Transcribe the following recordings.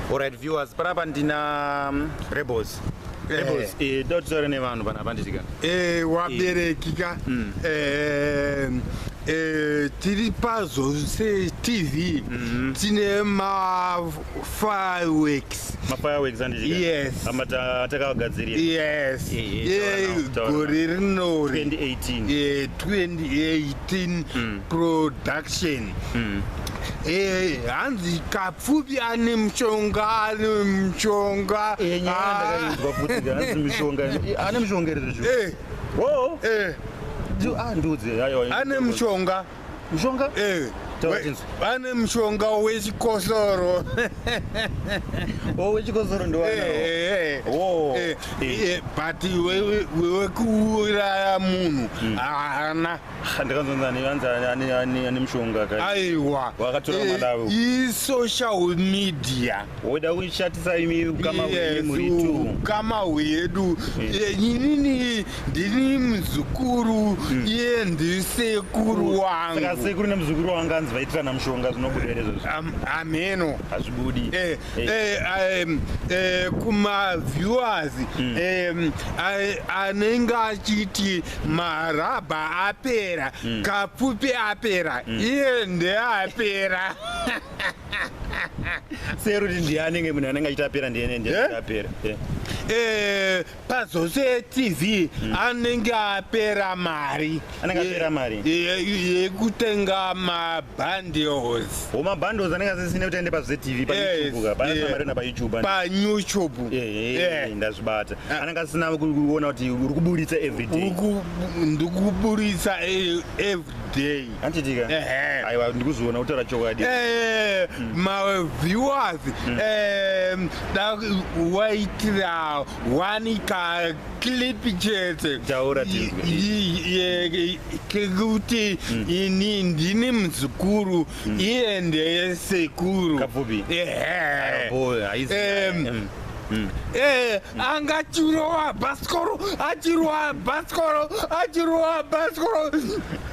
Alright viewers, panapa ndina mm, Rebels. Rebels, eh, eh dotore nevanhu panapa nditika. Eh, wabereki ka. Mm. Eh, eh, tiri pazo se TV mm-hmm. tine ma fireworks ma fireworks andizvika yes ama takagadzirira yes eh, eh, gore rino 2018 2018 production mm. Eh, hanzi kapfupi ane mushonga ane mushonga eh, ah. ane mushonga eh. oh. ah, ane mushonga mushonga vane mushonga wechikosoro oh, wechikosoro ndiwanao eh, eh, eh, but wekuuraya munhu mm. haana aiwa isocial media woda kushatisa imi ukama hwedu inini ndini muzukuru iye ndisekuru wangusekuru nemuzukuru wanga anzi vaitirana mushonga zvinobuda here zvozvo ameno hazvibudi Eh, um, eh, kumaviewers mm. um, anenge achiti marabha apera mm. kapfupi apera mm. iye ndeapera seruti ndiye anenge munhu anenge achitapera ndiye ndiye eh? achitapera eh? pazose tv mm. anenge apera mari anenge apera mari yekutenga mabundles o mabundles anenge asisine kuti aende pazose tv payoutube paasina mari na payoutube payoutube ndazvibata ah. anenge asina kuona kuti uri kuburitsa everyday ndikuburitsa e, everyday handitika Ehe. aiwa ndikuzoona kutaura chokwadi Eh, maviewers eh, da waitira wani ka clip chete Taura tinzwe. I- i- ye- kekuti ini ndini muzukuru iye ndeye sekuru Kapfupi. Ehe. Boy, haizi- Em, Mm. Mm. Eh, anga achirowa bhasikoro achirowa bhasikoro achirowa bhasikoro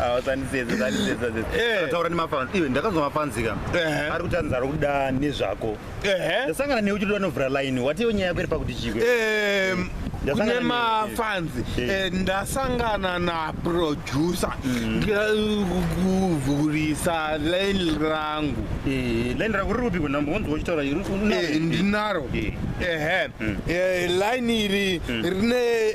awasandiseeaaaura nemafans iwe ndakanzwa mafanzi ka ari kuti anzaro kuda nezvako ndasangana newe uchitoda novhura line watiwo nyaya yako iri pakuti chikwe kune mafanzi eh. eh, ndasangana naproducer mm. kuvhurisa line rangu eh, line rangu riri kupi kunambo wonzi wochitaura ndinaro ehe mm. line iri mm. rine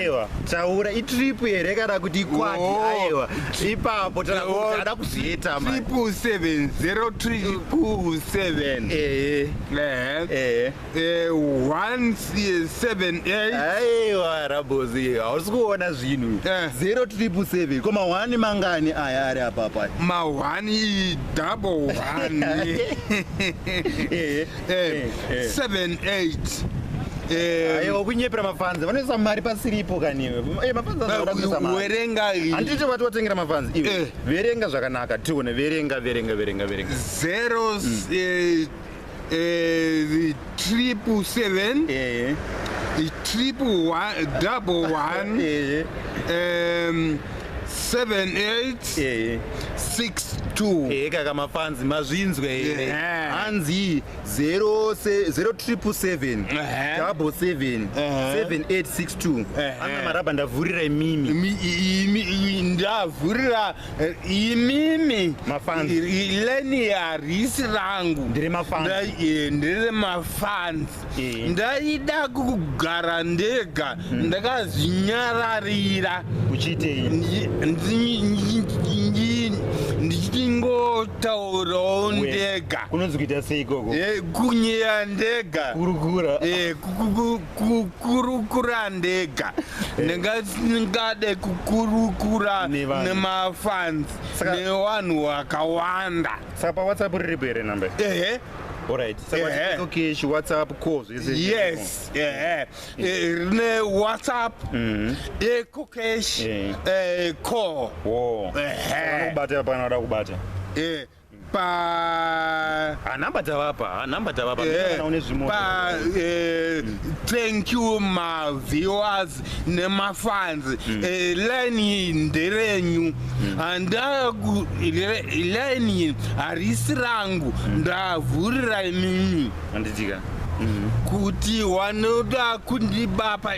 aiwa taura itrip here kana kuti ikwati oh. aiwa ipapo taaada kuzviita triple seven zero triple seven ehe ehe ehe one seven eight aiwa rabozi hausi kuona zvinhu eh. zero triple seven ko mahwani mangani aya ari apapa mahwani double one ehe eh, eh. 7 8 aiwa kunyepera mafanzi vanoisa mari pasiripo kaniwe eh, mafanziwerenga eh, handiti vati watengera mafanzi iwe eh. verenga zvakanaka tione verenga verenga verenga verenga zero mm. triple seven triple one double one um, 7862 eh kaka mafanzi mazvinzwe here eh. eh. hanzi 0777 double 7 7862 ana maraba ndavhurira imimi ndavhurira eh, imimi mafanzi leni harisi rangu ndiri mafanzi ndiri mafanzi Eh. ndaida kugara ndega hmm. ndakazvinyararira uchiitei ndichingotaurawo ndega kunonzi kuita sei ikoko eh, kunyeya ndega kurukura eh, kurukura ndega ndingade kukurukura nemafansi nevanhu vakawanda saka pawhatsapp riripo here number ehe Alright. So what Yeah. is okay, she WhatsApp calls. Is it yes ehe Eh, rine whatsapp ecocash Yeah. eh, call Whoa. Ehe. Kubata hapana wada kubata. Eh, pa Ah, number dzavapa, ah, number dzavapa. Eh, Mimi naone zvimwe. pa eh, thank you ma viewers nemafans mm. eh, line nderenyu mm. andaku line harisi rangu mm. ndavhurira imimi anditika mm-hmm. kuti wanoda kundibapa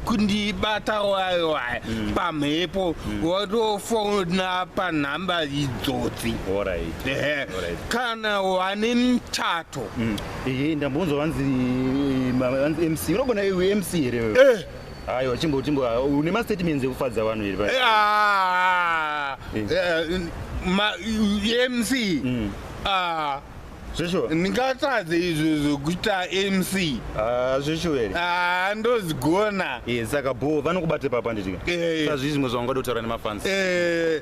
kundibata wayo waya mm. pamhepo mm. watofona panhamba idzodzi kana wane mchato mm. Ehe ndambonzwa vanzi vanzi MC unogona iwe MC here wewe? Eh. Aiwa chimbo chimbo ah, une ma statements ekufadza vanhu here paya? Eh, ah, Eh. eh, ma- mc Mm. Ah, Zveshuwa? ndingatadze izvo zvokuita mc Ah zveshuwa here? Ah, ndozigona Eh saka bho vanokubate papa nditika. Eh. Sazvizvi zvimwe zvavangada kutaura nemafans. Eh,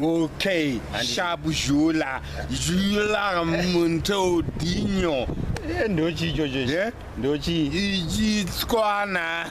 Okay, shabu zhula, zhula munto dinyo. Eh, ndochi ichocho. Yeah? Ndochi. Ichitswana.